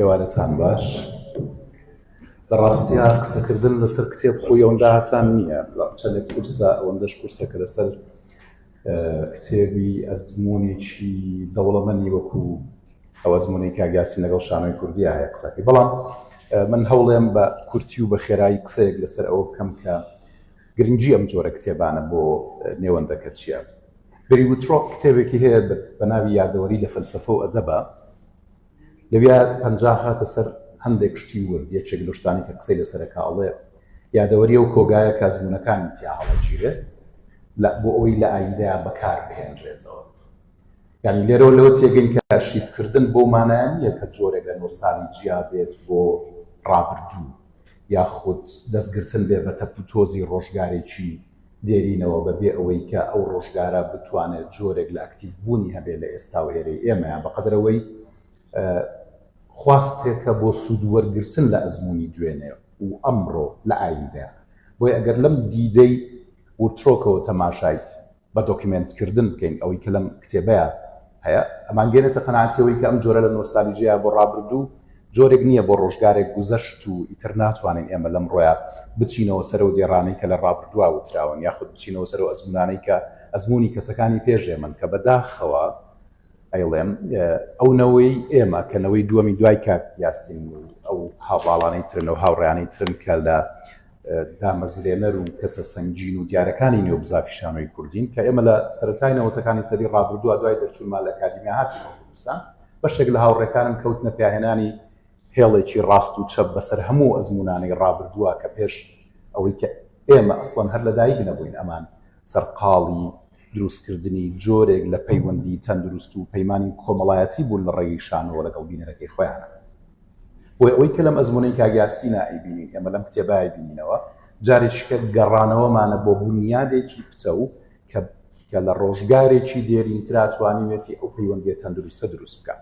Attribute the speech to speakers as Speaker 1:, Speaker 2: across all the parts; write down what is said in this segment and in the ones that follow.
Speaker 1: ئێوارەتان باش لە ڕاستیا قسەکردن لەسەر کتێب خۆی ئەوەندا ئاسان نییە چەندێک کورسە ئەوەندەش کورسە کە لەسەر کتێبی ئەزمونێکی دەوڵەمەنی وەکو ئەو ئەزمونی کاگاسی لەگەڵ شانۆی کوردی هەیە قسەکەی بەڵام من هەوڵێم بە کورتی و بە خێرایی قسەیەک لەسەر ئەوە بکەم کە گرنگی ئەم جۆرە کتێبانە بۆ نێوەندەکە چییە بری وترۆپ کتێبێکی هەیە بە ناوی یادەوەری لە فەلسفە و ئەدەبە لەویا پەنجا هاتە سەر هەندێک شتی ورد، یەکێک لەو شتانەی کە قسەی لەسەر ئەکا ئەڵێ، یادەوەری ئەو کۆگایە کە ئەزموونەکانم تیا هەڵەگیرێ لە بۆ ئەوەی لە ئایندەیا بەکار بهێنرێتەوە. یانی لێرەوە لەوە تێگەین کە ئەرشیفکردن بەو مانایە نییە کە جۆرێک لە نۆستالیجیا بێت بۆ ڕابردوو، یاخود دەستگرتن بێ بە تەپ و تۆزی ڕۆژگارێکی دێرینەوە بە بێ ئەوەی کە ئەو ڕۆژگارە بتوانێت جۆرێک لە ئەکتیڤ بوونی هەبێت لە ئێستا و ئێرەی ئێمە یان بە قەدەر ئەوەی خواستێکە بۆ سوود وەرگرتن لە ئەزموونی دوێنێ و ئەمڕۆ لە ئایندەیان بۆیە ئەگەر لەم دیدەی وترۆکەوە تەماشای بە دۆکیمێنت کردن بکەین ئەوەی کە لەم کتێبەیە هەیە ئەمان گەێنێتە قەناتەوەی کە ئەم جۆرە لە نۆستالیجەیە بۆ ڕابردوو جۆرێک نییە بۆ ڕۆژگارێک گوزەشت و ئیتر ناتوانین ئێمە لەم ڕۆیا بچینەوە سەرەوە دێڕانەی کە لە ڕابردووا وتراون یاخود بچینەوە سەرەوە ئەزمونانەی کە ئەزمموی کەسەکانی پێشێ من کە بەداخەوە ئەیڵێم ئەو نەوەی ئێمە کە نەوەی دووەمی دوای کات یاسین ئەو هاواڵانەی ترن و هاوڕیانەی ترن کە لە دامەزرێنەر و کەسە سەنگین و دیارەکانی نێو بزافی شانۆی کوردین کە ئێمە لە سەرەتای نەوەتەکانی سەری ڕابردووە دوای دەرچوونمان لە ئەکادیمیا هاتی کوردستان بەشێک لە هاوڕێکانم کەوتنە پیاهێنانی هێڵێکی ڕاست و چەپ بەسەر هەموو ئەزمونانەی ڕابردووە کە پێش ئەوەی کە ئێمە ئەسڵەن هەر لەدایک نەبووین ئەمان سەرقاڵی دروستکردنی جۆرێک لە پەیوەندی تەندروست و پەیمانانی کۆمەڵایەتی بوون لە ڕێگەی شانەوە لەگەڵ بینەرەکەی خۆیانە بۆی ئەوەی کە لەم ئەزمونەی کاک یاسین ئایبینین ئێمە لەم کتێبای بینینەوە جارێکیکە گەڕانەوەمانە بۆ بنیادێکی پتە و کە کە لە ڕۆژگارێکی دێرینترا توانیوێتی ئەو پەیوەندیە تەندروستە دروست بکە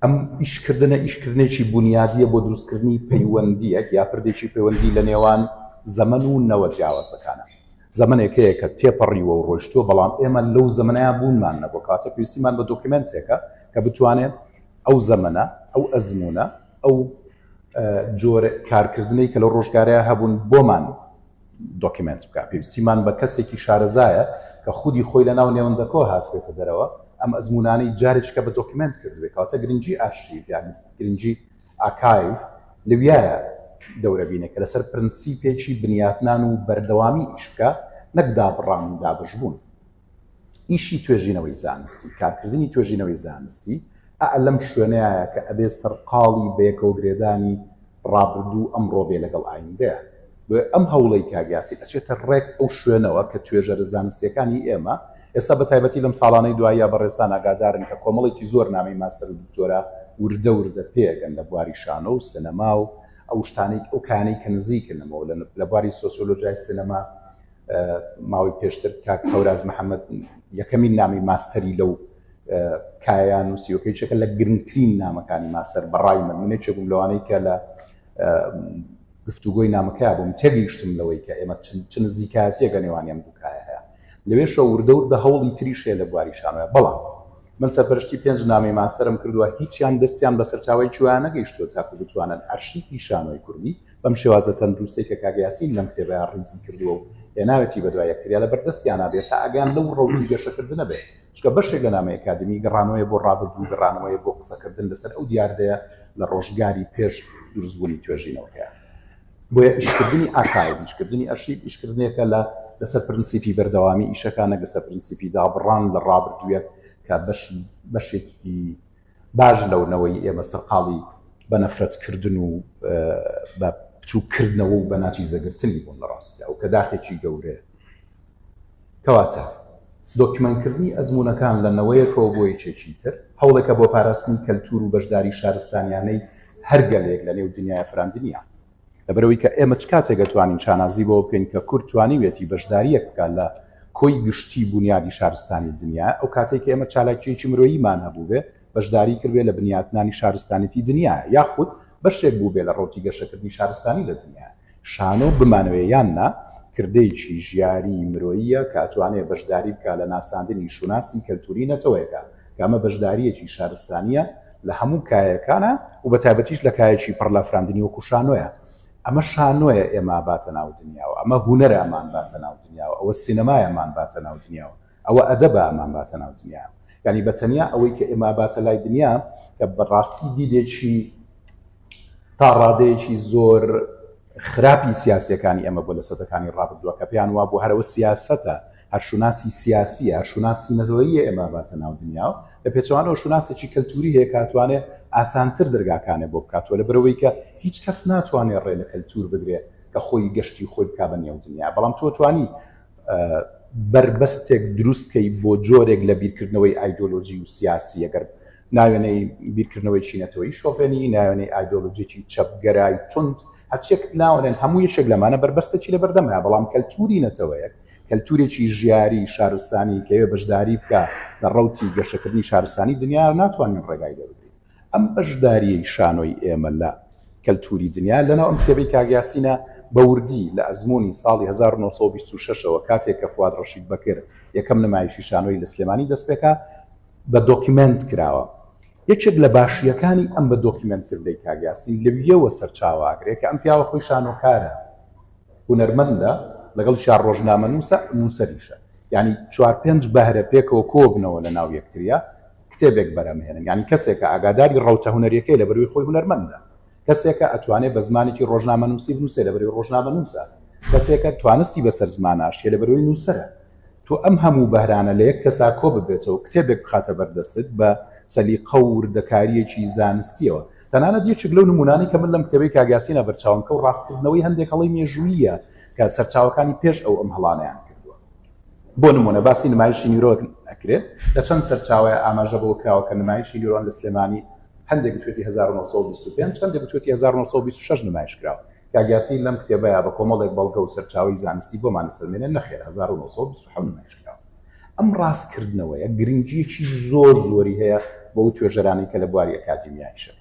Speaker 1: ئەم ئیشکردنە ئیشکردنێکی بنیادیە بۆ دروستکردنی پەیوەندیەک یا پردێکی پەیوەندی لە نێوان زەمن و نەوە جیاوازەکانە زەمەنێکەیە کە تێپەڕیوە و ڕۆشتووە بەڵام ئێمە لەو زەمنەیە بوونمان نەبوو کاتە پێویستیمان بە دۆکیمنتێکە کە بتوانێت ئەو زەمنە ئەو ئەزمونە ئەو جۆرە کارکردنی کە لە ڕۆژگارەیە هەبوون بۆمان دۆکیمنت بکە پێویستیمان بە کەسێکی شارەزایە کە خودی خۆی لە ناو نێوەندەکۆ هاتبێتە دەرەوە ئەم ئەزمونانەی جارێککە بە دۆکیمنت کردوێ کاتە گرنگجی ئاشتی یان گرنگجی ئاکایڤ لەویایە دەورەبینێک کە لەسەر پرنسیپێکی بنیاتنان و بەردەوامی ئیش بکا نەک دابڕان و دابەشبوون. ئیشی توێژینەوەی زانستی، کارکردنی توێژینەوەی زانستی ئا لەم شوێنەیایە کە ئەبێ سەرقاڵی بەیەکەوەگرێدانی ڕابردوو و ئەمڕۆ بێ لەگەڵ ئایندەیان. بۆیە ئەم هەوڵەی کاک یاسین ئەچێتە ڕێک ئەو شوێنەوە کە توێژەرە زانستییەکانی ئێمە ئێستا بە تایبەتی لەم ساڵانەی دواییە بەڕێزتان ئاگادارن کە کۆمەڵێکی زۆر نامەی ماستەر و دکتۆرا وردە وردە پێگەن لە بواری شانۆ و سینەما و ئەو شتانەی ئەو کانەی کە نزیکن لەمەوە لە بواری سۆسیۆلۆژیای سینەما ماوەی پێشتر کاک هەوراز محەممەد یەکەمین نامی ماستەری لەو کایان و سیۆکەی چەکە لە گرنگترین نامەکانی ماسەر بەڕای من منێکێکم لەوانەی کە لە گفتوگۆی نامەکە بووم تێگەیشتم لەوەی کە ئێمە چ نزیکاتیەکە نێوان ئەم دوکایە هەیە لەوێشە وردەور بە هەوڵی تریشێ لە بواری شانۆە بەڵام من سەرپەرشتی پێنج نامی ماسەرم کردووە هیچیان دەستیان بە سەرچاوی جوانە گەیشتوە تاکو بتوانن ئەرشیفی شانۆی کوردی بەم شێوازە تەندروستی کە کاگەیاسین لەم کتێبە ڕیزی کردووە و هێناوێتی بەدوای یەکتریا لە بەردەستیانە بێت تا ئەگەیان لەو ڕەوی گەشەکردنە بێت چونکە بەشێک لە نامەی ئەکادیمی گەڕانەوەیە بۆ ڕابردوو و گەڕانەوەیە بۆ قسەکردن لەسەر ئەو دیاردەیە لە ڕۆژگاری پێش دروستبوونی توێژینەوەکەیان. بۆیە ئیشکردنی ئاکایڤ، ئیشکردنی ئەرشیڤ ئیشکردنێکە لە لەسەر پرنسیپی بەردەوامی ئیشەکان، نەک لەسەر پرنسیپی دابڕان لە ڕابردوویەک کە بەشی بەشێکی باش لەو نەوەی ئێمە سەرقاڵی بە نەفرەت کردن و بە بچوو کردنەوە و بە ناچی زەگرتنی بوون لە ڕاستیا و کە داخێکی گەورەیە کەواتە دۆکیمەنکردنی ئەزمونونەکان لە نەوەیەکەوە بۆ یەکێکی تر هەوڵێکە بۆ پاراستنی کەلتور و بەشداری شارستانیانەی هەرگەلێک لە نێو دنیای فراندنیان لەبەرەوەی کە ئێمە چ کاتێک ئەتوانین شانازی بەوە بکەین کە کورد توانیویەتی بەشدارییەک بکات لە کۆی گشتی بونیادی شارستانی دنیا ئەو کاتێک کە ئێمە چالاکیەکی مرۆییمان هەبووبێ بەشداری کردێ لە بنیاتنانی شارستانێتی دنیا یاخود بەشێک بوو بێ لە ڕۆکی گەشەکردنی شارستانی لە دنیا شانۆ بمانوێ یان نا کردێکی ژیاری مرۆییە کاتوانێ بەشداری بکە لە ناساندنی شوناسی کەلتوری نەتەوەیەکە کە ئەمە بەشدارییەکی شارستانییە لە هەموو کایەکانا و بە تایبەتیش لە کایەکی پڕ لە فراندنی وەکو شانۆیە. ئەمە شانۆیە ئێمە باتە ناو دنیاوە، ئەمە هونەرە ئەمان باتە ناو دنیاوە، ئەوە سینەمایە ئەمان باتە ناو دنیاوە، ئەوە ئەدەبە ئەمان باتە ناو دنیاوە. یانی بە تەنیا ئەوەی کە ئێمە باتە لای دنیا کە بە ڕاستی دیدێکی تا ڕادەیەکی زۆر خراپی سیاسییەکانی ئێمە بووە لە سەدەکانی ڕابردووە کە پێیان وابوو هەر ئەوە سیاسەتە هەر شوناسی سیاسییە، هەر شوناسی نەتەوەییە ئێمە ئەباتە ناو دنیا و لە پێچەوانەوە شوناسێکی کەلتووری هەیە کە ئەتوانێ ئاسانتر دەرگاکانێ بۆ بکاتەوە لە بەرئەوەی کە هیچ کەس ناتوانێ ڕێ لە کەلتوور بگرێ کە خۆی گەشتی خۆی بکا بە نێو دنیا بەڵام تۆ توانی بەربەستێک دروست کەی بۆ جۆرێک لە بیرکردنەوەی ئایدۆلۆژی و سیاسی ئەگەر ناوێنەی بیرکردنەوەی چینەتەوەیی شۆڤێنی، ناوێنەی ئایدۆلۆژیەکی چەپگەرای توند، هەرچیەک ناوەنێن هەموو یەکێک لەمانە بەربەستێکی لەبەردەمە، بەڵام کەلتوری نەتەوەیەک، کەلتورێکی ژیاری شارستانی کەوێ بەشداری بکا لە ڕەوتی گەشەکردنی شارستانی دنیا ناتوانین ڕێگای لێ بگرین. ئەم بەشداریەی شانۆی ئێمە لە کەلتوری دنیا لەناو ئەم کتێبەی کاک یاسینە بە وردی لە ئەزمونی ساڵی هەزار و نۆ سەد و بیست و شەش ەوە کاتێک کە فواد ڕەشید بەکر یەکەم نمایشی شانۆی لە سلێمانی دەستپێکا، بە دۆکیمێنت کراوە. یەکێک لە باشییەکانی ئەم بە دۆکیمێنت کردەی کاک یاسین لەویەوە سەرچاوە ئەگرێ کە ئەم پیاوە خۆی شانۆکارە، هونەرمەندە، لەگەڵیشیا ڕۆژنامەنووسە، نووسەریشە. یانی چوار پێنج بەهرە پێکەوە کۆبنەوە لەناو یەکتریا کتێبێک بەرهەمهێنن. یانی کەسێکە ئاگاداری ڕەوتە هونەرییەکەی لەبەروی خۆی هونەرمەندە. کەسێکە ئەتوانێ بە زمانێکی ڕۆژنامەنووسی بنووسێ لە بەرەوەی ڕۆژنامەنووسە کەسێکە توانستی بەسەر زماناشیە لە بەرەوەی نووسەرە تۆ ئەم هەموو بەرانە لە یەک کەسا کۆ ببێتەوە کتێبێک بخاتە بەردەستت بە سەلی قەوردەکاریەکی زانستیەوە تەنانەت یەکێک لەو نمونانی کە من لەم کتێبی کاگاسینە بەرچاوم کە و ڕاستکردنەوەی هەندێک هەڵی مێژوویە کە سەرچاوەکانی پێش ئەو ئەم هەڵانیان کردووە بۆ نمونە باسی نمایشی نیرۆت ئەکرێت لە چەند سەرچاوی ئاماژە بۆ کراوە کە نمایشی نیرۆن لە سلێمانی هەندێک بتوێتی هەزار و نۆ سەد و بیست و پێنج، هەندێک بتوێتی هەزار و نۆ سەد و بیست و شەش نمایش کرا. کاک یاسین لەم کتێبەیا بە کۆمەڵێک بەڵگە و سەرچاوەی زانستی بۆمان ئەسەلمێنێ نەخێر هەزار و نۆ سەد و بیست و حەوت نمایش کرا. ئەم ڕاستکردنەوەیە گرنگییەکی زۆر زۆری هەیە بۆ ئەو توێژەرانەی کە لە بواری ئەکادیمیایشن.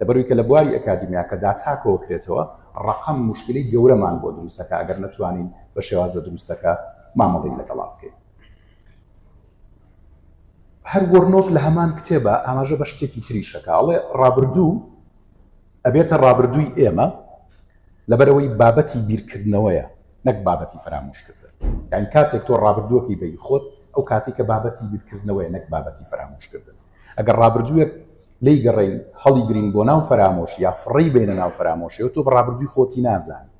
Speaker 1: لەبەروی کە لە بواری ئەکادیمیاکە داتا کۆ کرێتەوە ڕەقەم موشکیلەی گەورەمان بۆ دروست ئەکا ئەگەر نەتوانین بە شێوازە دروستەکە مامەڵەی لەگەڵا بکەین. هەر گۆرنۆف لە هەمان کتێبا ئاماژە بە شتێکی تریش دەکا، ئەڵێ، ڕابردوو ئەبێتە ڕابردووی ئێمە، لەبەرئەوەی بابەتی بیرکردنەوەیە نەک بابەتی فەرامۆشکردن. یانی کاتێک تۆ ڕابردووەکەی بە ی خۆت، ئەو کاتەی کە بابەتی بیرکردنەوەیە نەک بابەتی فەرامۆشکردن. ئەگەر ڕابردووێک لێی گەڕێین، هەڵیگرین بۆ ناو فەرامۆش یا فڕێی بەینە ناو فەرامۆشەوە، تۆ بە ڕابردووی خۆتی نازانی.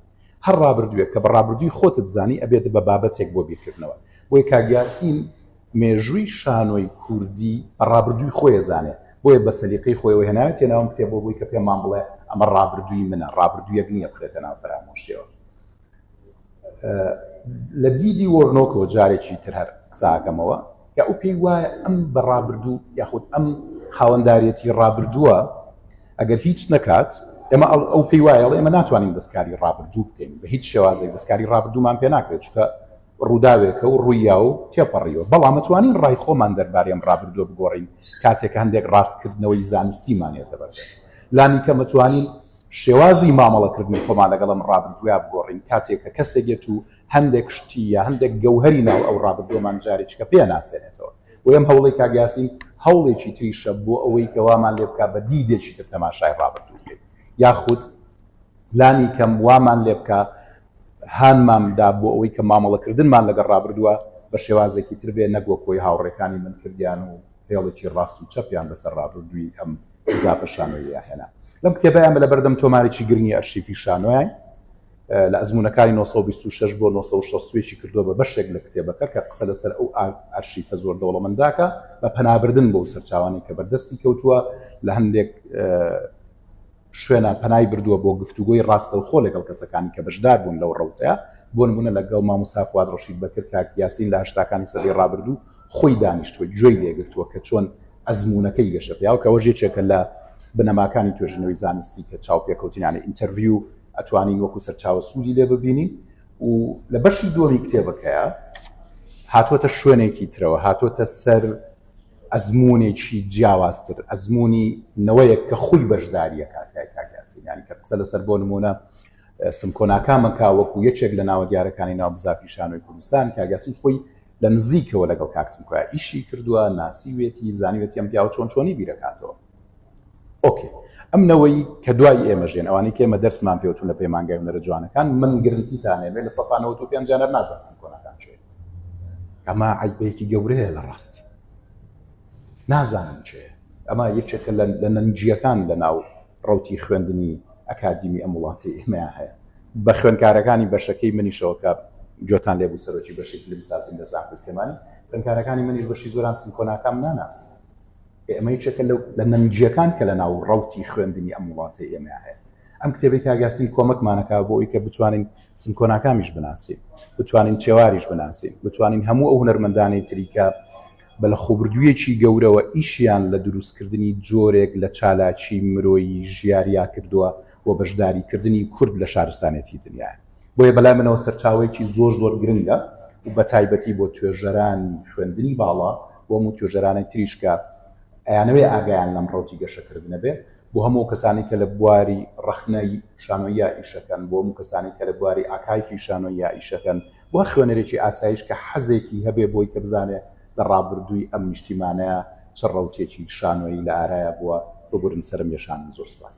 Speaker 1: هەر ڕابردووێک کە بە ڕابردووی خۆتت زانی، ئەبێتە بە بابەتێک بۆ بیرکردنەوە. بۆیە کاک یاسین مێژووی شانۆی کوردی بە ڕابردووی خۆی ئەزانێت، بۆیە بە سەلیقەی خۆیەوە هێناویەتیە ناو ئەم کتێبەوە بۆی کە پێمان بڵێ ئەمە ڕابردووی منە، ڕابردوویەک نییە بخرێتە ناو فەرامۆشیەوە. لە دیدی وۆرنۆکەوە جارێکی تر هەر قسە ئەکەمەوە کە ئەو پێی وایە ئەم بە ڕابردوو یاخود ئەم خاوەنداریەتی ڕابردووە ئەگەر هیچ نەکات ئێمە ئەو پێی وایە ئێمە ناتوانین دەستکاری ڕابردوو بکەین بە هیچ شێوازێک دەستکاری ڕابردوومان پێ ناکرێت چکە ڕووداوێکە و ڕووییا و تێپەڕیوە، بەڵام ئەتوانین ڕای خۆمان دەربارەی ئەم ڕابردووە بگۆڕین کاتێک کە هەندێک ڕاستکردنەوەی زانستیمان یەتە بەردەست. لانیکەم ئەتوانین شێوازی مامەڵەکردنی خۆمان لەگەڵ ئەم ڕابردووە بگۆڕین کاتێک کە کەسێک یەت و هەندێک شتی یا هەندێک گەوهەری ناو ئەو ڕابردووەمان جارێکیکە پێناسێنێتەوە. بۆیە ئەم هەوڵەی کاک یاسین هەوڵێکی تریشە بۆ ئەوەی کە وامان لێ بکات بە دیدێکی تر تەماشای ڕابردوو بکەین یاخود. لانی کەم وامان لێبکا هانمان دا بۆ ئەوەی کە مامەڵەکردنمان لەگەڵ ڕابردووە بە شێوازێکی تر بێ نەک وەک وەی هاوڕێکانی من کردیان و هێڵێکی ڕاست و چەپیان بەسەر ڕابردووی ئەم زافە شانۆییە هێنا. لەم کتێبە ئێمە لەبەردەم تۆمارێکی گرنگی ئەرشیفی شانۆیاین لە ئەزموونەکانی 1926 بۆ 1960 کردووە بە بەشێک لە کتێبەکە کە قسە لەسەر ئەو ئارشیفە زۆر دەوڵەمەنداکە بە پەنابردن بۆ سەرچاوانی کە بەردەستی کەوتووە لە هەندێک شوێنە پەنای بردووە بۆ گفتوگۆی ڕاستەوخۆ لەگەڵ کەسەکانی کە بەشداربوون لەو ڕەوتە، بۆ نموونە لەگەڵ ماموستا فواد ڕەشید بەکر کاک یاسین لە هەشتاکانی سەدەی ڕابردوو خۆی دانیشتووە گوێی لێگرتووە کە چۆن ئەزموونەکەی گەشەپیاوە کە ئەوەش یەکێکە لە بنەماکانی توێژینەوەی زانستی کە چاوپێکەوتن یانی ئینتەرڤیو ئەتوانین وەکو سەرچاوە سوودی لێ ببینین و لە بەشی دووەمی کتێبەکەیە هاتووەتە شوێنێکی ترەوە هاتووەتە سەر ئەزموونێکی جیاوازتر، ئەزموونی نەوەیەک کە خووی بەشدارییە کاتیای کاک یاسین یانی کە قسە لەسەر بۆ نموونە سمکۆ ناکامە کا وەکو یەکێک لە ناوە دیارەکانی ناو بزافی شانۆی کوردستان کاک یاسین خۆی لە نزیکەوە لەگەڵ کاک سمکۆیا ئیشی کردووە، ناسیوێتی، زانیوێتی ئەم پیاوە چۆن چۆنی بیرەکاتەوە. ئۆکێ ئەم نەوەی کە دوای ئێمە ژێن ئەوانی کە ئێمە دەرسمان پێوتون لە پەیمانگای نەرە جوانەکان من گرنتیتانێمێ لە سەفانەوە و پێنجانەر نازانسم کۆنەکان چێ ئەمە عیبەیەکی گەورەیە لە ڕاستی نازانم چێ ئەمە یەکێکە لە نەنجیەکان لە ناو ڕوتی خوێندنی ئەکادیمی ئەم وڵاتی ئێمەیان هەیە بە خوێندکارەکانی بەشەکەی منیشەوەکە جۆتان لێبوو سەرۆکی بەشی فلم سازیم لە زانکۆی سلێمانی خوێندکارەکانی منیش بەشی زۆران سمکۆناکەم ناناس ئێمە یەکێکە لەو لە نەنگیەکان کە لە ناو ڕوتی خوێندنی ئەم وڵاتی ئێمە هەیە ئەم کتێبی کاگاسین کۆمەکمانەکە بۆ ئەوی کە بتوانین سمکۆناکامیش بناسین بتوانین چێواریش بناسین بتوانین هەموو ئەو هەرمەندانی تریکە بە لە خۆبردوویەکی گەورەوە ئیشیان لە دروستکردنی جۆرێک لە چالاکی مرۆیی ژیاریا کردووە و بەشداریکردنی کورد لە شارستانێتی دنیا بۆیە بەلای منەوە سەرچاوەیەکی زۆر زۆر گرنگە و بەتایبەتی بۆ توێژەرانی خوێندنی باڵا بۆ هەموو توێژەرانی تریش کە ئەیانەوێ ئاگایان لەم ڕەوتی گەشەکردنە بێ بۆ هەموو کەسانی کە لە بواری ڕەخنەی شانۆییا ئیشەکەن بۆ هەموو کەسانی کە لە بواری ئاکایفی شانۆییا ئیشەکەن بۆ هەر خوێنەرێکی ئاسایش کە حەزێکی هەبێ بۆی کە بزانێ لە ڕابردووی ئەم نیشتیمانەیە چ ڕەوتێکی شانۆیی لە ئارایە بووە ببورن سەرم یەشانن زۆر سوپاس.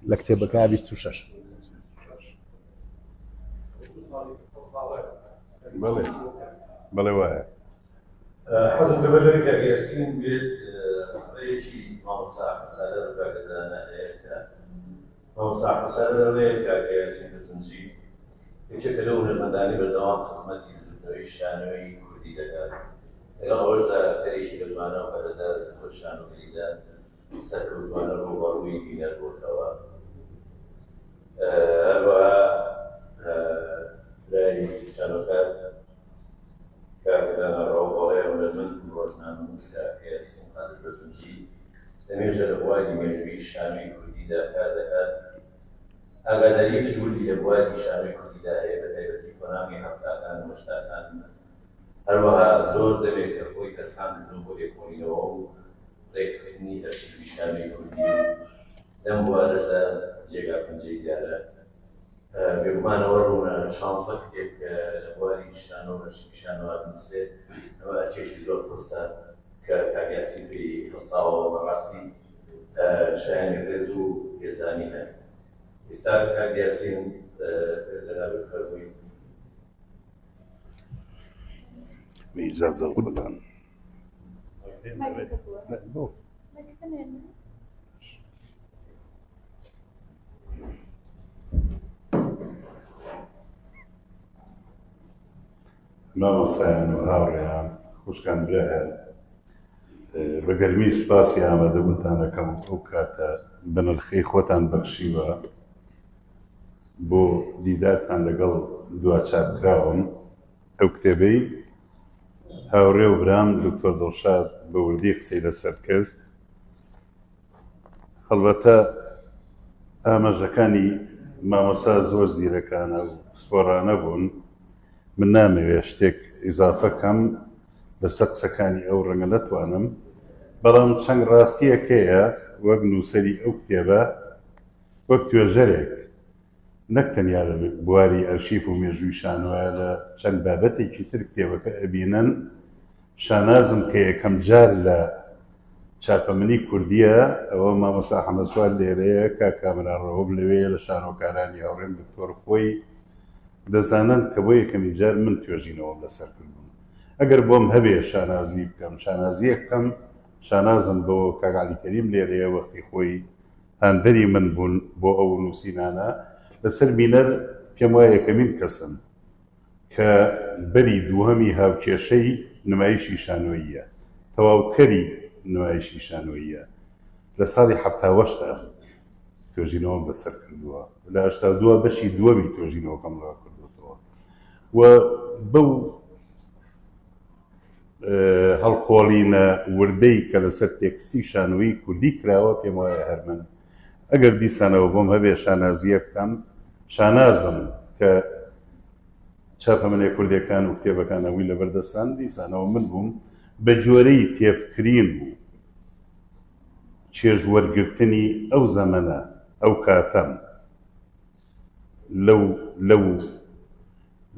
Speaker 1: لە کتێبەکە بیست و شش
Speaker 2: بەڵێ بەڵێ وایە
Speaker 3: حەزم لەوە لەوەی کاک یاسین بێت ڕێیەکی مامۆستا ئەحمەد سالار و کاکە دانا هەیە کە مامۆستا ئەحمەد سالار ڕێیە کاکە یاسین لە زنجی یەکێکە لەو هونەرمەندانەی بەردەوام خزمەتی بزووتنەوەی شانۆی کوردی دەکات لەگەڵ ئەوەشدا ئەکتەرێکی بەتوانا و پەرەدارە لە خۆی شانۆگەریدا سەرکەوتوانە ڕووبەڕووی بینەر بۆتەوە. هەروەها برایەکی تریشانەکات کاک دانا ڕەوڵ بەڵێ ئەو لە من ڕۆژنامەنووس کە ئەکەیەت سم قادر بەزنجی لەمێژە لە بواری مێژوویی شانۆی کوردیدا کار دەکات ئاگاداریەکی وردی لە بواری شانۆی کوردیدا هەیە بە تایبەتی قۆناغی هەفتاکان و هەشتاکان هەروەها زۆر دەمێکە خۆی تەرخان کردووە بۆ لێکۆڵینەوە و ڕێکخستنی ئەرشیڤی شانۆی کوردی و لەم بوارەشدا جێگا پەنجەی دیارە. بێگومانەوە ڕوونە شانسە کتێب کە لە بواری شانۆ و ئەرشیڤی شانۆا بنووسرێت ئەمە ئەرکێکی زۆر قورسە کە کاک یاسین پێی هەستاوە و بەڕاستی شایانی ڕێز و پێزانینە. ئیستا کاک یاسین جەنابت بفەرمووی.
Speaker 2: میرزا زەوقلان. مامۆستایان و هاوڕێیان خوشکان برایان بە گەرمی سپاسی ئامادەبوونتانەکەم ئەو کاتە بەنرخەی خۆتان بەخشیوە بۆ دیدارتان لەگەڵ دواچارکراوم ئەو کتێبەی هاوڕێ و برام دکتۆر دڵشاد بە وردی قسەی لەسەر کرد هەڵبەتە ئاماژەکانی مامۆسا زۆر زیرەکانە و پسپۆرانە بوون من نامەوێ شتێک ئیزافەکەم لەسەر قسەکانی ئەو ڕەنگە نەتوانم بەڵام چەند ڕاستیەکەیە وەک نووسری ئەو کتێبە وەک توێژەرێک نەک تەنیا لە بواری ئەرشیف و مێژووی شانۆیە، لە چەند بابەتێکی تر کتێبەکە ئەبینن، شانازم کە یەکەم جار لە چاپەمنی کوردییە، ئەوە مامۆستا حەمەسوار لێرەیە، کاک کامەران رەوف لەوێیە، لە شانۆکارانی هاوڕێم دکتۆر خۆی دەزانن کە بۆ یەکەمین جار من توێژینەوەم لەسەر کردوون، ئەگەر بۆم هەبێ شانازی بکەم، شانازییەک بکەم، شانازم بەوە کاک عەلی کەریم لێرەیە، وەختی خۆی، هاندەری من بوون بۆ ئەو نووسینانە لەسەر بینەر، پێم وایە یەکەمین کەسن کە بەری دووهەمی هاوکێشەی نمایشی شانۆییە، تەواوکەری نمایشی شانۆییە، لە ساڵی حەفتا و هەشت توێژینەوەم لەسەر کردووە و لە هەشتا و دوو بەشی دووەمی توێژینەوەکەم ڕاکردۆتەوە و بەو هەڵکۆڵینە وردەی کە لەسەر تێکستی شانۆیی کوردی کراوە، پێم وایە هەر من، ئەگەر دیسانەوە بۆم هەبێ شانازییەک بکەم، شانازم کە چاپەمەنێ کوردێکان و کتێبەکان ئەوی لەبەر دەستان، دیسانەوە من بووم، بە جۆرەی تێفکرین و چێژوەرگرتنی ئەو زەمەنە، ئەو کاتەم. لەو لەو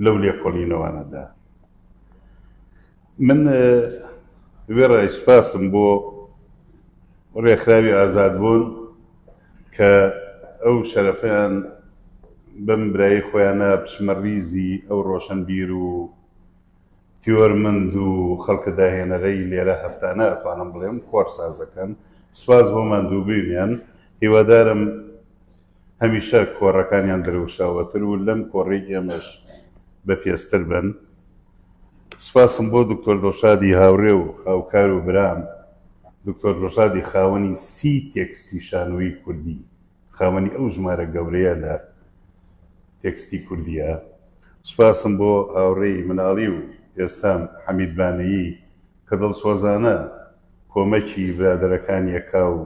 Speaker 2: لەو لێکۆڵینەوانەدا من وێڕای سپاسم بۆ ڕێکخراوی ئازاد بوون کە ئەو شەرەفیان بەم برایی خۆیانە بچمە ریزی ئەو ڕۆشنبیر و تیۆرمەند و خەڵکە داهێنەرەی لێرە هەفتانە ئەتوانم بڵێم خۆر سازەکەن سپاس بۆ ماندووبوونیان هیوادارم هەمیشە کۆڕەکانیان درەوشاوەتر و لەم کۆڕەی ئێمەش بە پێزتر بن. سوپاسم بۆ دکتۆر دڵشادی هاوڕێ و هاوکار و برام، دکتۆر دڵشادی خاوەنی سی تێکستی شانۆیی کوردی، خاوەنی ئەو ژمارە گەورەیە لە تێکستی کوردییە. سوپاسم بۆ هاوڕێی مناڵی و ئێستام حەمید بانەیی کە دڵسۆزانە کۆمەکی برادەرەکانییەکا و،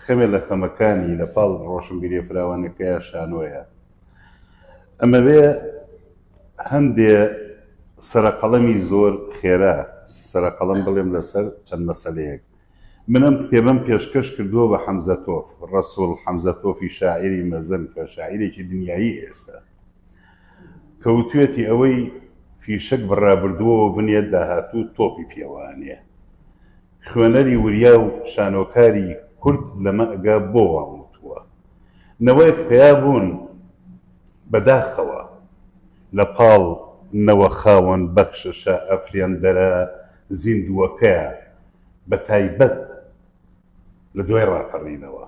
Speaker 2: خەمێ لە خەمەکانی لە پاڵ ڕۆشنبیریە فراوانەکەیا شانۆیە ئەمەوێ هەندێ سەرەقەڵەمی زۆر خێرا سەرەقەڵەم بڵێم لەسەر چەند مەسەلەیەک من ئەم کتێبم پێشکەش کردووە بە حەمزە تۆف ڕەسوڵ حەمزە تۆفی شاعری مەزن کە شاعیرێکی دنیایی ئێستا کەوتوێتی ئەوەی فیشەک بڕابردووەوە بنێت داهاتوو تۆپی پێوانێ خوێنەری وریا و شانۆکاری کورد لەمەگە بۆ وام وتووە؟ نەوەیەک پەیا بوون بە داخەوە لە پاڵ نەوە خاوەن بەخششە ئەفرێندەرە زیندووەکەیە بە تایبەت لە دوای ڕاپەڕینەوە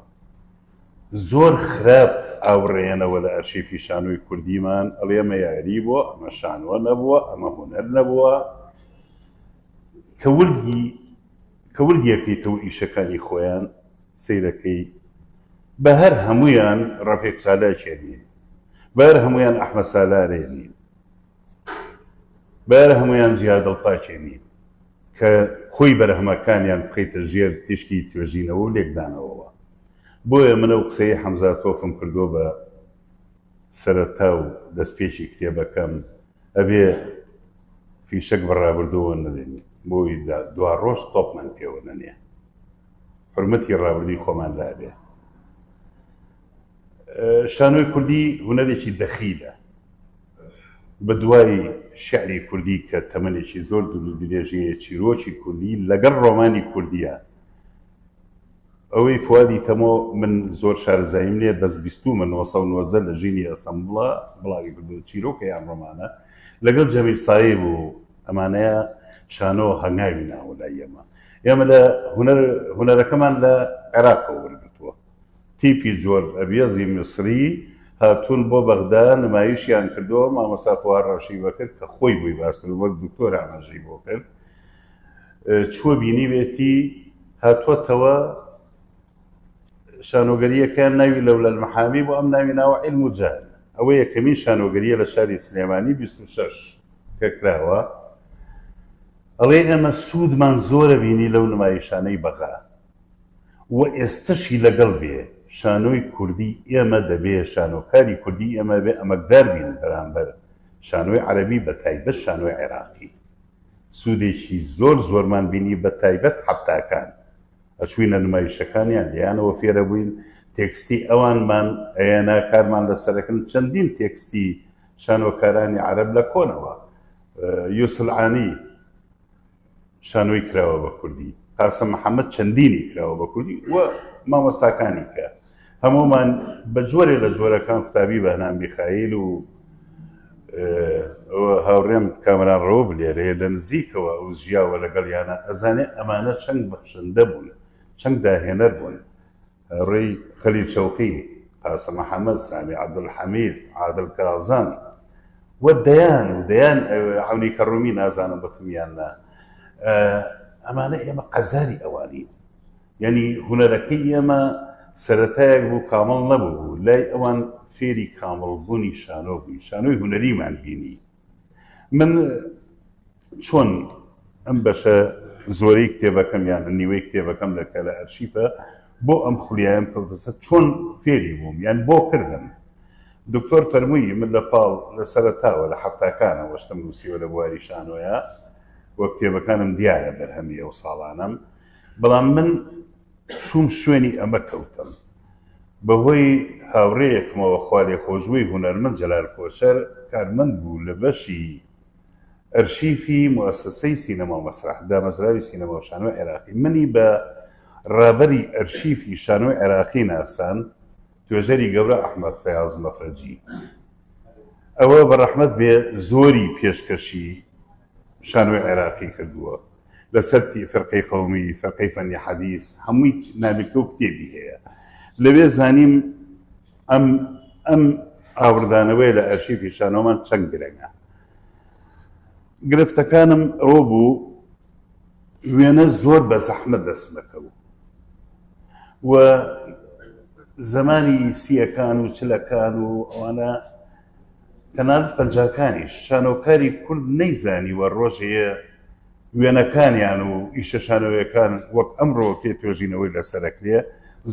Speaker 2: زۆر خراپ ئاوڕێنەوە لە ئەرشیفی شانۆی کوردیمان ئەڵێ ئەمە یاری بووە ئەمە شانۆ نەبووە ئەمە هونەر نەبووە کە وردی کە وردی ئەکەیتەوە ئیشەکانی خۆیان سەیرەکەی بە هەر هەموویان ڕەفیق چالاکێ نین بە هەر هەموویان ئەحمەد سالارێ نین بە هەر هەموویان جیا دڵپاکێ نین کە خۆی بەرهەمەکانیان بکەیتە ژێر تیشکی توێژینەوە و لێکدانەوەوە بۆیە منە و قسەی حەمزە تۆفم کردووە بە سەرەتا و دەستپێکی کتێبەکەم ئەبێ فیشەک بە ڕابردووەوە نەدەین بۆ ی دوا ڕۆژ تۆپمان پێوە نەنێ حرمەتی ڕابردووی خۆمان لابێ شانۆی کوردی هوەرێکی دەخیلە بە دوای شعری کوردی کە تەمەێکی زۆر درێژەیە چیرۆکی کوردی لەگەڵ ڕۆمانی کوردیە ئەوەی فوادی تەمۆ من زۆر شارەزاییم نیە بەس بیستوومە نۆ سەد و نۆزدە لە ژینی ئەستەمبوڵە بڵاوی کردووە چیرۆکە یان ڕۆمانە لەگەڵ جەمیل سایب و ئەمانەیە شانۆ هەنگاوی ناوە لای ئێمە ئێمە لە هونەر هونەرەکەمان لە عێراقەوە وەرگرتووە تیپی جۆر ئەبیەزی میسری هاتوون بۆ بەغدا نمایشیان کردووە مامۆستا فواد ڕەشی بەکرد کە خۆی بووی باس کرد وەک دکتۆر ئاماژەی بۆ کرد چووە بینیوێتی هاتووەتەوە شانۆگەرییەکەیان ناوی لەولا المحامی بوو، ئەم ناوی ناوە عیلم و جەهل. ئەوە یەکەمین شانۆگەرییە لە شاری سلێمانی بیست و شەش کە کراوە. ئەڵێ ئێمە سوودمان زۆرە بینی لەو نمایشانەی بەغا و ئێستەشی لەگەڵ بێ شانۆی کوردی ئێمە دەبێ شانۆکاری کوردی ئێمە بێ ئەمەکدار بین بەرامبەر شانۆی عەرەبی بەتایبەت شانۆی عێراقی. سودێکی زۆر زۆرمان بینی بە تایبەت حەفتاکان ئەچوینە نمایشەکانیان لێیانەوە فێرەبوین تێکستی ئەوانمان ئەیەنا کارمان لەسەرەکن چەندین تێکستی شانۆکارانی عەرەب لە کۆنەوە یوسلعانی شانۆی کراوە بە کوردی قاسم محەممەد چەندینی کراوە بە کوردی و مامۆستاکانی کە هەموومان بە جۆرێ لە جۆرەکان قوتابی بەهنام میخائیل و هاوڕێم کامران ڕەوف لێرەیە لە نزیکەوە ئەو ژیاوە لەگەڵ یانە ئەزانێ ئەمانە چەند بەخشندە بوون چەند داهێنەر بوون ڕێی خەلیل شەوقی قاسم محەممەد سامی عەبدولحەمید عادل کازان و دەیان و دەیان عونی کەڕوومی نازانم بەخمیان نا ئەمانە ئێمە قەزاری ئەوانین یانی هونەرەکەی ئێمە سەرەتایەک بوو کامڵ نەبوو، لای ئەوان فێری کامڵ بوونی شانۆ بووین، شانۆی هونەریمان بینی، من چۆن ئەم بەشە زۆرەی کتێبەکەم یان نیوەی کتێبەکەم لە کە لە ئەرشیفە بۆ ئەم خولیایەم کەوتەسە چۆن فێری بووم یان بۆ کردم، دکتۆر فەرمووی من لە پاڵ لە سەرەتاوە لە حەفتاکانەوە شتم نووسیوە لە بواری شانۆیا و کتێبەکانم دیارە بەرهەمی ئەو ساڵانەم، بەڵام من چووم شوێنی ئەمە کەوتم. بەهۆی هاوڕێیەکمەوە خوالێخۆشبووی هونەرمەند جەلال کۆچەر کارمەند بوو لە بەشی ئەرشیفی موئەسەسەی سینەما و مەسرەح دامەزراوی سینەما و شانۆی عێراقی منی بە ڕابەری ئەرشیفی شانۆی عێراقی ناساند توێژەری گەورە ئەحمەد فەیاز مەفرەجی ئەوە بەڕەحمەت بێ زۆری پێشکەشی شانۆی عێراقی کردووە لە سەرتی فەرقەی قەومی فەرقەی فەنی حەدیس هەمووی نامیلکە و کتێبی هەیە لەوێ زانیم ئەم ئەم ئاوردانەوەی لە ئەرشیفی شانۆمان چەند گرنگە گرفتەکانم ئەوە بوو وێنە زۆر بە زەحمە دەستمەکەوت و زمانی سیەکان و چلەکان و ئەوانە تەنانەت پەنجاکانیش شانۆکاری کورد نەیزانیوە ڕۆژێ وێنەکانیان و ئیشە شانۆیەکان وەک ئەمڕۆ پێ توێژینەوەی لەسەر ئەکرێ،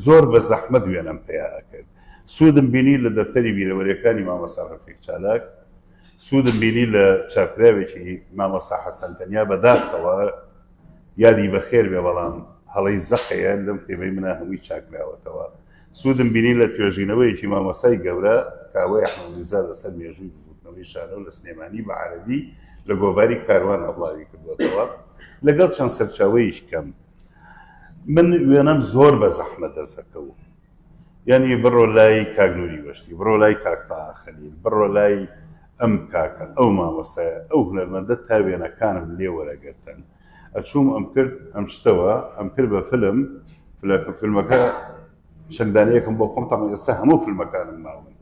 Speaker 2: زۆر بە زەحمەت وێنەم پیا ئەکرد. سوودم بینی لە دەفتەری بیرەوەریەکانی مامۆستا ڕەفیق چالاک، سوودم بینی لە چاپراوێکی مامۆستا حەسەن تەنیا بە داخەوە یادی بەخێر بێ بەڵام هەڵەی زەقەیە لەم کتێبەی منا هەمووی چاکراوەتەوە. سوودم بینی لە توێژینەوەیەکی مامۆستای گەورە کاوەی ئەحمەد میرزا لەسەر مێژووی بزووتنەوەی شانۆ لە سلێمانی بە عەرەبی لە گۆڤاری کاروانە بڵاوی کردووەتەوە لەگەڵ چەند سەرچاوەیش کەم من وێنەم زۆر بە زەحمە دەسەکەوت یعنی بڕۆ لای کاک نوری وەشتی بڕۆ لای کاکتا خەلیل بڕۆ لای ئەم کاکە ئەو مامۆستایە ئەو هونەرمەندە تا وێنەکانم لێ وەرەگرتن ئەچووم ئەمکرد ئەمشتەوە ئەمکرد بە فلم فلە فلمەکە چەند دانەیەکم بۆ خۆم تاڵم ئێستا هەموو فلمەکانم ماون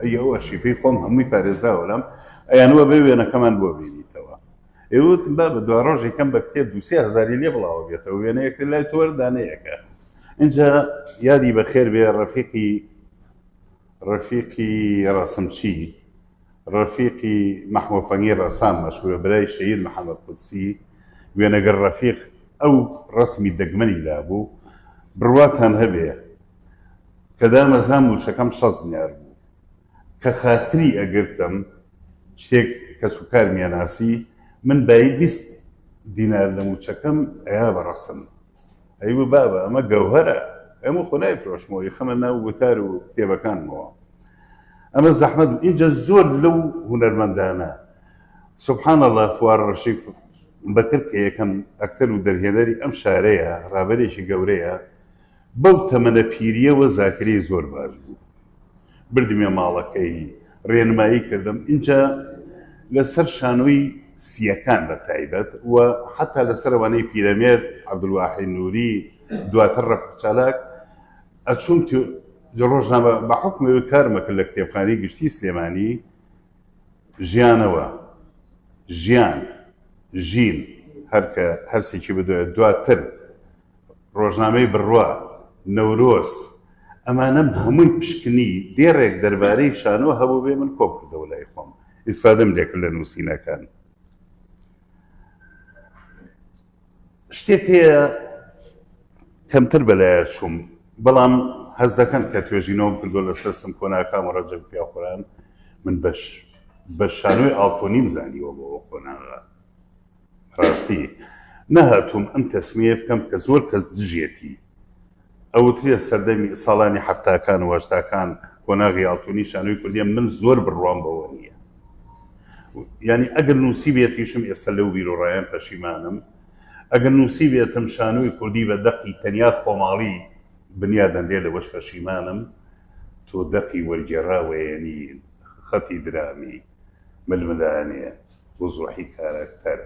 Speaker 2: ئەی ئەو ئەشیفەی خۆم هەمووی پارێزراوە لەم ئەیانوە بێ وێنەکەمان بۆ بینیتەوە ئێوت با بە دو ڕۆژی کەم بە کتێب دوسێ هزاری لێ بڵاوە بێتەوە وێنەیەکە لای تۆر دانەیەەکە اینجا یادی بەخێر بێ ڕەفیقی ڕەفیقی ڕەسمچی ڕەفیقی مەحموو فەنگی ڕەسام مەشهوورە برای شەهید محەمەد قودسی وێنەگر ڕەفیق ئەو ڕەسمی دەگمەنی لابوو بڕواتان هەبێ کە دامەزرا مووچەکەم شەست دینار بوو کە خاتری ئەگرتم شتێک کەس و کارمیان ناسی من بایی بیست دینار لە مووچەکەم ئەیا بە ڕەسم ئەی و بابە ئەمە گەوهەرە ئەمە خۆ نایفرۆشمەوە یخەمە ناو وتار و کتێبەکانمەوە ئەمە زەحمەت ئیجا زۆر لەو هونەرمەندانە سبحان الله فوار ڕەشی بەکر کە یەکەم ئەکتەر و دەرهێنەری ئەم شارەیە ڕابەرێکی گەورەیە بەو تەمەنە پیریەوە زاکری زۆر باش بوو بردمیە ماڵەکەی رێنمایی کردم ئینجا لە سەر شانۆی سییەکان بە تایبەت و حەتا لە سەر ئەوانەی پیرەمێرد عەبدولواحی نووری دواتر رەفیق چالاک ئەچووم لە رۆژنامە بە حوکمەوەی کارم ئەکرد لە کتێبخانەی گشتی سلێمانی ژیانەوە ژیان ژین هەرکە هەرسێکی بدوێت دواتر ڕۆژنامەی بڕوا، نەورۆز، ئەمانەم هەمووی پشکنی، دێڕێک دەربارەی شانۆ هەبووبێ من کۆم کردەوە لای خۆم، ئیسفادەم لێ کرد لە نووسینەکان. شتێک هەیە کەمتر بەلایە چووم، بەڵام هەست دەکەم کە توێژینەوەم کردووە لەسەر سمکۆنا کام و ڕەجەب پیاوخوران، من بە شانۆی ئاڵتۆنیم زانیوە بۆ قۆناغە. ڕاستی نەهاتووم ئەم تەسمیەیە بکەم کە زۆر کەس دژیەتی. ئەوترێ سەردەمی، ساڵانی حەفتاکان و هەشتاکان، قۆناغی ئاڵتوونی شانۆی کوردیە، من زۆر بڕوام بەوە نیە. یانی ئەگەر نووسیبێتیشم ئێستا لەو بیروڕایەم پەشیمانم. ئەگەر نووسیبێتم شانۆی کوردی بە دەقی تەنیا خۆماڵی بنیا دەنرێ لەوەش پەشیمانم. تۆ دەقی وەرگێڕاوەیەنی خەتی درامی. ململانێ وزوحی کاراکتەر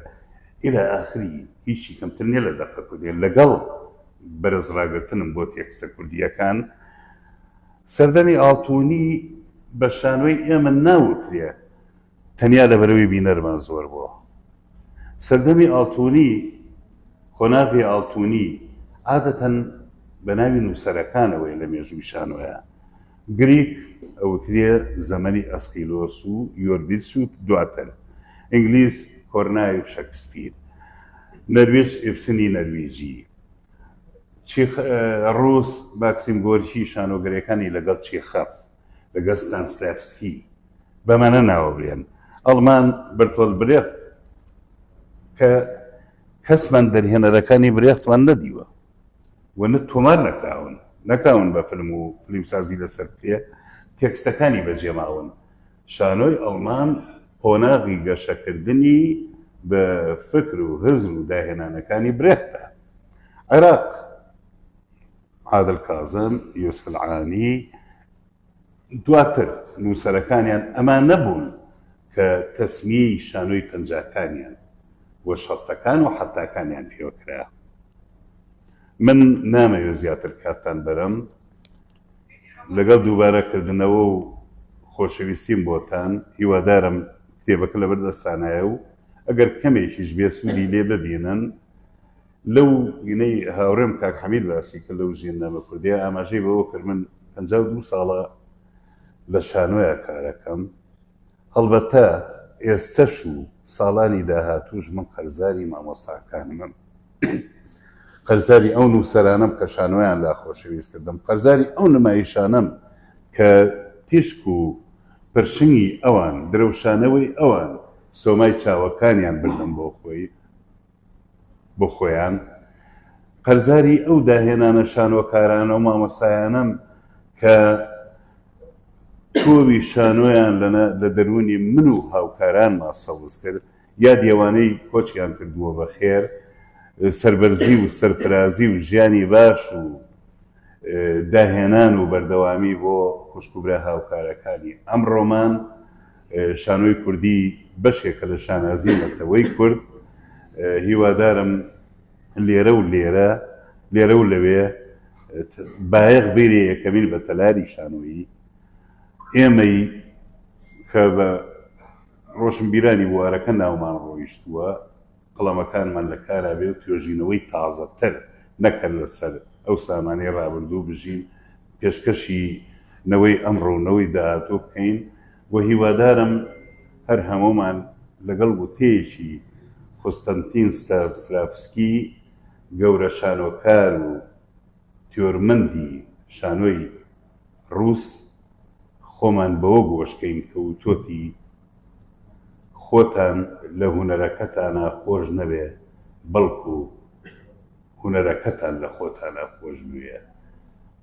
Speaker 2: الی اخری هیچی کەمتر نیە لە دەقە کوردیە لەگەڵ بەرز ڕاگرتنم بۆ تێکستە کوردیەکان سەردەمی ئاڵتونی بە شانۆی ئێمە ناوترێ تەنیا لە بەرەوەی بینەرمان زۆر بۆ سەردەمی ئاڵتونی قۆناغی ئاڵتونی عادەتەن بە ناوی نووسەرەکانەوەی لە مێژووی شانۆیە گریک ئەوترێ زەمەنی ئەسقیلۆس و یۆربیدس و دواتر ئینگلیز کۆرنای و شەکسپیر نەرویج ئیبسنی نەرویجی چیخ ڕووس ماکسیم گۆرکی شانۆگەریەکانی لەگەڵ چیخەف لەگەڵ ستانسلافسکی بەمانە ناوەبرێن ئەڵمان بەرتۆل برێخت کە کەسمان دەرهێنەرەکانی برێختمان نەدیوە و نە تۆمار نەکراون نەکراون بە فلم و فلیمسازی لەسەر پێ تێکستەکانی بەجێ ماون شانۆی ئەڵمان قۆناغی گەشەکردنی بە فکر و هزر و داهێنانەکانی برێختە عێراق عادل کازم یوسف العانی دواتر نووسەرەکانیان ئەمان نەبوون کە تەسمیەی شانۆی پەنجاکانیان و شەستەکان و حەفتاکانیان پێوە کرا. من نامەوێ زیاتر کاتتان بەرم، لەگەڵ دووبارە کردنەوە و خۆشەویستیم بۆتان، هیوادارم کتێبەکە لەبەردەستانایە و ئەگەر کەمێکیش بێ سوودی لێ ببینن، لەو وینەی هاوڕێم کاک حەمید باسی کرد لەو زیندانە کوردیە ئاماژەی بەوە کرد من پەنجا و دوو ساڵە لە شانۆیا کارەکەم هەڵبەتە ئێستەش و ساڵانی داهاتووش من قەرزاری مامۆستاکانمم قەرزاری ئەو نووسەرانم کە شانۆیان لا خۆشەویست کردم قەرزاری ئەو نمایشانم کە تیشک و پرشنگی ئەوان درەوشانەوەی ئەوان سۆمای چاوەکانیان بردم بۆ خۆی بۆ خۆیان قەرزاری ئەو داهێنانە شانۆکارانە و مامۆستایانەم کە تۆوی شانۆیان لە دەروونی من و هاوکارانما سەوز کرد، یادی ئەوانەی کۆچیان کردووە بە خێر، سەربەرزی و سەرفرازی و ژیانی باش و داهێنان و بەردەوامی بۆ خوشک و برا هاوکارەکانی ئەمڕۆمان. شانۆی کوردی بەشێکە لە شانازی نەتەوەی کورد هیوادارم لێرە و لێرە لێرە و لەوێ بایەق بیرێ یەکەمین بە تەلاری شانۆیی ئێمەی کە بە ڕۆشنبیرانی بوارەکە ناومان ڕۆیشتووە قڵەمەکانمان لە کارا بێ و توێژینەوەی تازەتر نەکەن لە سەر ئەو سامانەی ڕابردوو بژین پێشکەشی نەوەی ئەمڕۆ و نەوەی داهاتوو بکەین و هیوادارم هەر هەموومان لەگەڵ وتەیەکی قوستەنتین ستانسلافسکی گەورە شانۆکار و تیۆرمەندی شانۆی ڕووس خۆمان بەوە گۆش کەین کە وتۆتی، خۆتان لە هونەرەکەتانا خۆش نەبێ بەڵکو هونەرەکەتان لە خۆتانا خۆش بوێ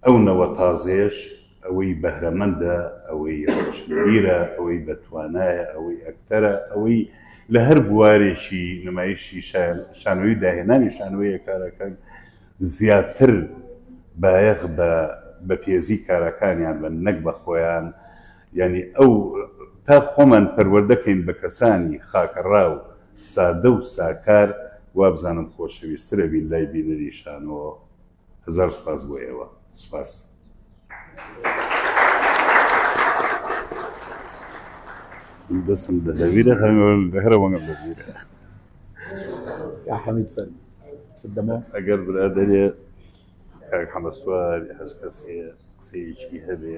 Speaker 2: ئەو نەوە تازەیەش ئەوەی بەهرەمەندە ئەوەی ڕۆشنبیرە ئەوەی بە توانایە ئەوەی ئەکتەرە ئەوەی لە هەر بوارێکی نمایشی شانۆیی داهێنانی شانۆیە کارەکەن زیاتر بایەخ بە بەپێزی کارەکانیان بەن نەک بە خۆیان یانی ئەو تا خۆمان پەروەردە کەین بە کەسانی خاکەڕا و سادە و ساکار وابزانم خۆشەویستر ئەبین لای بینەری شانۆ هەزار سوپاس بۆ ئێوە سوپاس. دەسم دەدەویرە هەرە وەنگم دەبیرە
Speaker 1: حەمید فەر دەمە ئەگەر برادێ
Speaker 2: کاک حەمەسوار هەر کەسێ قسەیەکی هەبێ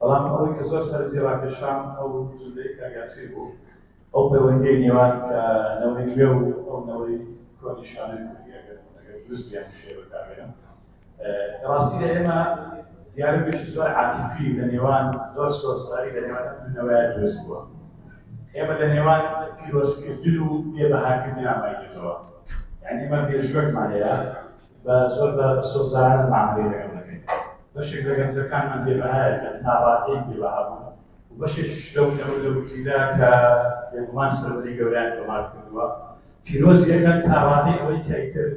Speaker 4: بەڵام ئەوەی کە زۆر سەرنجی ڕاکێشام ئەو جملەی کاک یاسین بوو، ئەو پەیوەندییەی نێوان کە نەوەی نوێ و ئەو نەوەی کۆنی شانۆی کوردی ئەگەر ئەگەر دروست بێ یان شێ بەکار بێنم لە ڕاستیدا ئێمە دیالۆگێکی زۆر عاتیفی لە نێوان زۆر سۆزداری لە نێوان ئەم دوو نەوەیە دروست بووە ئێمە لە نێوان پیرۆزکردن و بێبەهاکردن ئامای دێتەوە یانی ئێمە مێژووەکمان هەیە بە زۆر بە سۆزدارانە مامەڵەی لەگەڵ دەکەین. بەشێک لە گەنجەکانمان بێ بەهایە کە ناڕازیی بێ بەها بوون و بەشێکیش لەو نەوت و تیلە کە بێگومان سەرەتای گەورەیان تۆمار کردووە پیرۆزی ئەکەن تا ڕادەی ئەوەی کە ئیتر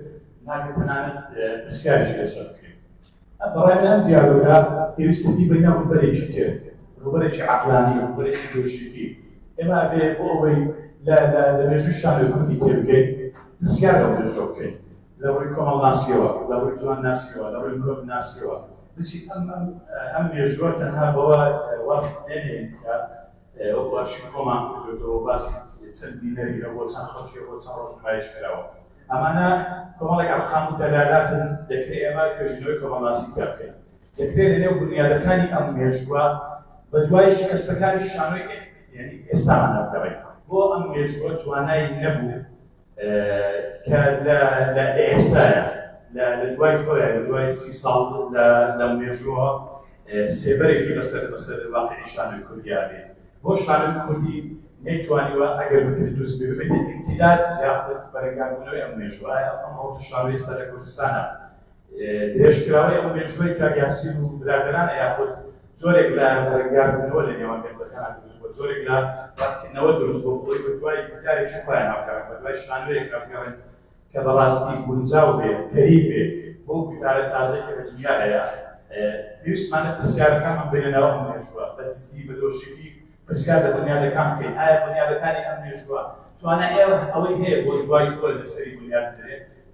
Speaker 4: ناکرێت تەنانەت پرسیاریش لەسەر بکرێت. بەڕای من ئەم دیالۆگە پێویستە بیبەینە ڕووبەرێکی تر، ڕووبەرێکی عەقلانی، ڕووبەرێکی لۆژیکی. ئێمە ئەبێ بۆ ئەوەی لە لە لە مێژووی شانۆی کوردی تێبگەین، پرسیار لەو مێژووە بکەین. لە ڕووی کۆمەڵناسییەوە، لە ڕووی جوانناسییەوە، لە ڕووی مرۆڤناسییەوە بچین. ئەم ئەم ئەم مێژووە تەنها بەوە واز نەهێنین کە، وەکو ئەرشیف کۆمان کردۆتەوە باسی چەند بینەری هەبووە چەند خەڵکی هەبووە چەند ڕۆژ نمایش کراوە ئەمانە کۆمەڵێک ئەرقام و دەلالاتن دەکرێت ئێمە توێژینەوەی کۆمەڵناسی تیا بکەین دەکرێت لەنێو بنیادەکانی ئەم مێژووە بە دوای شکستەکانی شانۆی یعنی ئێستامان دەگەڕێین بۆ ئەم مێژووە توانای نەبوو کە لە لە ئێستایا لە لە دوای خۆیان لە دوای سی ساڵ لە لە مێژووە سێبەرێکی بەسەر بەسەر واقعی شانە کوردیا بێ بۆ شانە کوردی نەیتوانیوە ئەگەر بکرد دروست بێ ببێتە ئیمتیداد یاخود بەرەنگاربوونەوەی ئەم مێژووە ئەم هەڵکشانەوەی سەر لە کوردستانە درێژکراوەی ئەو مێژووەی کاک یاسین و برادەرانە یاخود جۆرێک لە ڕەنگاندنەوە لە نێوان گەنجەکانە دروست بووە، جۆرێک لە ڕەتکردنەوە دروست بووە بەوەی بەدوای گوتارێکی خۆیان هەڵگەڕێن، بەدوای شانۆیەک هەڵگەڕێن کە بەڕاستی گونجاو بێت، کەریت بێت بەو گوتارە تازەی کە لە دونیا هەیە. پێویستمانە پرسیارەکانمان بێنە ناو ئەم مێژووە، بە جددی، بە لۆژیکی پرسیار لە بونیادەکان بکەین، ئایا بونیادەکانی ئەم مێژووە توانای ئەوەی هەیە بۆ دوای خۆی لەسەری بونیاد بدرێت؟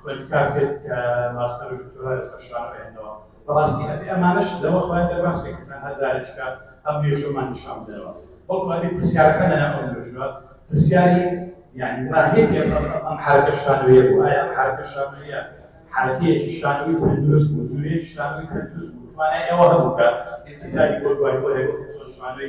Speaker 4: خوێند کار کرد کە ماستەر و دکتۆرا لەسەر شار خوێندەوە بەڕاستی ئەبێ ئەمانەش لەوە خوایە دەرباز کە کە تەنها جارێک کە ئەم مێژوومان نیشان بدەنەوە بەڵکو ئەبێ پرسیارەکە لەنا ئەو مێژووە پرسیاری یعنی ماهیەتی ئەم حرکە شانویە بوو ئایا ئەم حرکە شانویە حرکەیەکی شانوی تەندروست بوو جوێن شانوی تەندروست بوو توانای ئەوە هەبوو کە انتقالی بۆ دوای خۆی هەبوو شانوی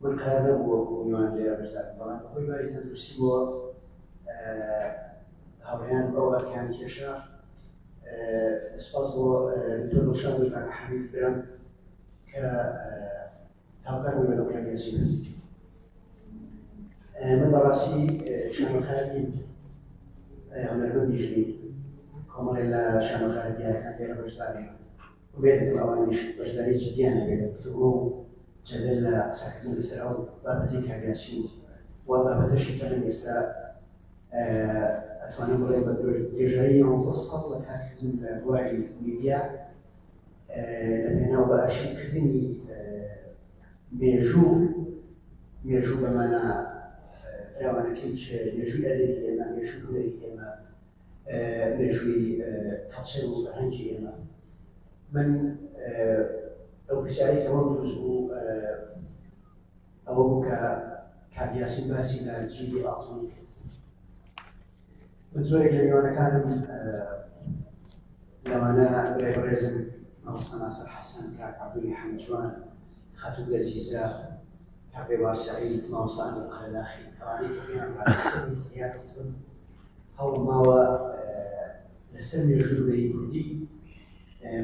Speaker 5: گونکار نەبوو وەکو میوان لێرە بزانن، بەڵام بە هۆی باری تەندروستیبەوە هاوڕێیان ئەو ئەرکیان کێشا. سپاس بۆ دکتۆر دڵشاد و کاکە حەمید برام کە هاوکار بوون لەگەڵ کاک یاسین عەزیز. من بەڕاستی شانۆکار نیم، هونەرمەندیش نیم، کۆمەڵێ لە شانۆکارە دیارەکان لێرە بەشدار نیم. ئومێد دەکەم ئەوانیش بەشداری جدیان هەبێت لە گفتوگۆ و جەدەل لە قسەکردن لەسەر ئەو بابەتەی کە هەبێت چی و بابەتەشی کە من ئێستا ئەتوانم بڵێم بە درێژایی یانزە ساڵ لە کارکردن لە بواری میدیا لە پێناو بە ئەرشیوکردنی مێژوو مێژوو بەمانە فراوانەکەی مێژووی ئەدەبی ئێمە مێژووی هونەری ئێمە مێژووی کەڵچەر و فەرهەنگی ئێمە من ئەو پرسیارەی کە وەم دروست بوو ئەوە بوو کە کاک یاسین باسی لە جیلی ئاڵتونی کرد من زۆرێک لە میوانەکانم لەوانە برای بەڕێزم مەڵسە ناسر حەسەن کاک عەبدولی حەمجوان خاتوو لەزیزە کاک بێوار سەعید ماوسان قەرداخی ئەوانەی کە پێیان هەوڵماوە لەسەر مێژووی بەرەی کوردی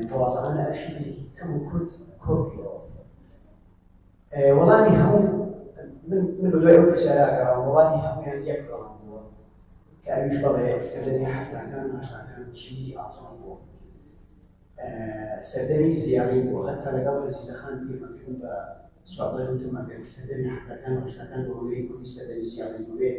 Speaker 5: تەوازانە لە ئەرشیفێکی کەم و کورت کۆبکەوە وەڵامی هەموو من بە دوای ئەو پرسیاراگەڕام وەڵامی هەمویان یەک بەڵام بووە کە ئەویش بەڵێ سەردەمی هەفتاکان و هەشتاکان چینی ئاسۆن بووە سەردەمی زیانی بووە هەتا لەگەڵ ئەزیزەخان پێمەکردن بە سوابەر وتمەکە سەردەمی هەفتاکان و هەشتاکان بەوەی کوردی سەردەمی زیانی بووێت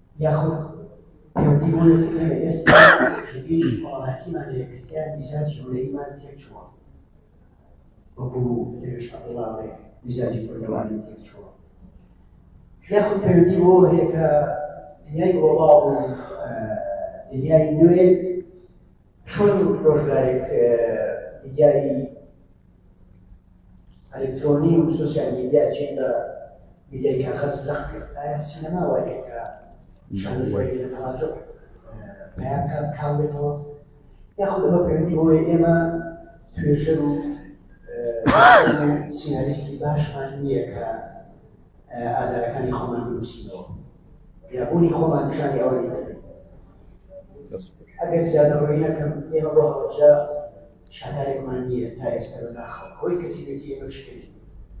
Speaker 5: یاخود پێوەندی بۆ یەکتر هەیە ئێستا ژینگەیەکی کۆمەڵایەتیمان لە یەکگرتیان میزاجی هونەریمان تێکچووە وەکو دەروێش عەبدوڵڵا بڵێ میزاجی کوردەواری تێکچووە یاخود پەیوەندی بۆ هەیە کە دنیای گڵۆباڵ و دنیای نوێ چۆن ڕۆژگارێک میدیای ئەلکترۆنی و سوسیال میدیا جێی بە میدیای کاغەز لەق کرد ئایا سینەما وای کرد کە شانۆی وای لە تەواجع پیا بکات کاڵ بێتەوە یاخود ئەمە پەیوەندی بەوەی ئێمە توێژەر و سیناریستی باشمان نییە کە ئازارەکانی خۆمان بنووسینەوە یابوونی خۆمان نیشانی ئەوە دەبێت ئەگەر زیادە ڕۆی نەکەم ئێمە بۆ هەڵەبجە شاکارێکمان نییە تا ئێستا بەداخەوە ئەوەی کەتیبێتی ئێمە شکێت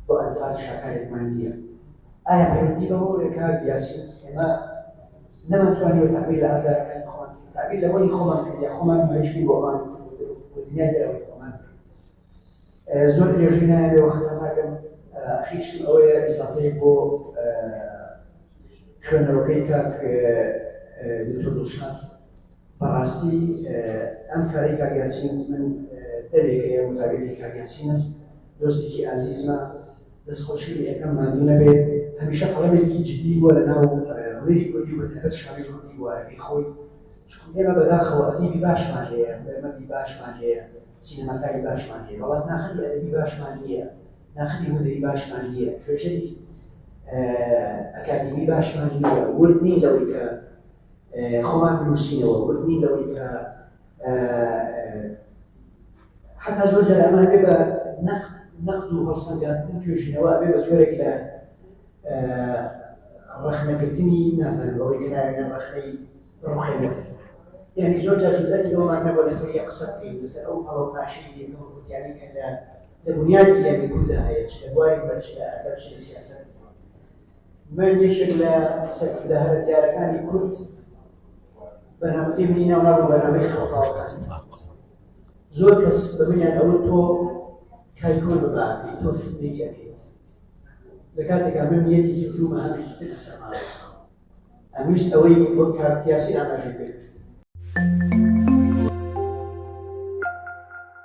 Speaker 5: بۆ ئەنفال شاکارێکمان نییە ئایا پەیوەندی بە بۆ ڕێکا یاسیت ئێمە نەمانتوانیوە تاقی لە ئازارەکانی خۆمان تاقی لەوەی خۆمان کردیا خۆمان مەشکی بۆمان دنیا دەرەوەی خۆمان زۆر درێژی نایەوێ وەختە ناکەم ئەخیشتم ئەوەیە ئیساتەی بۆ خوێنەوەکەی کاک دکتۆر دڵشاد بەڕاستی ئەم کاری کاک یاسین من دەرێکەیە متابێتی کاک یاسینە دۆستێکی ئازیزمە دەستخۆشی یەکەم ماندوو نەبێت هەمیشە قەڵەمێکی جدی بووە لە ناو ڕێی کوردی بە تایبەت شاری کوردی وارەکەی خۆی چکو ئێمە بەداخەوە ئەدیبی باشمان هەیە هونەرمەندی باشمان هەیە سینەماکاری باشمان هەیە، بەڵام ناخەدی ئەدەبی باشمان نییە، ناخەدی هونەری باشمان نییە، توێژەری ئەکادیمی باشمان نییە، ورد نین لەوەی کە خۆمان بنووسینەوە، ورد نین لەوەی کە حتا زۆر جار ئەمان بێ بە نەقد و هەڵسەنگاندن توێژینەوە بێ بە جۆرێک لە ڕەخنەگرتنی نازانم بەوەی کە ناوێنە ڕەخنەی ڕوخێنەر یانی زۆر جار جورئەتی ئەومان نەبووە لەسەر یەک قسە بکەین لەسەر ئەو هەڵە و پاشەی یەکەم کوردیانەی کە لە لە بنیادی یانی کوردا هەیە چ لە بواری هونەر چ لە ئەدەب چ لە سیاسەت من یەکێک لە سەرکردە هەرە دیارەکانی کورد بەنامەکەی منی ناونابوو بەنامەی خەڵفاوەکان زۆر کەس بە منیان ئەوە تۆ کای کۆن بباتی تۆ فیلمی یەکەی لە کاتێکا من نیەتێکی ترومە هەمێکی تر قسەماوە ئەمویست ئەوەی وەک کارت یاسی ئاماژەی پێ کرد.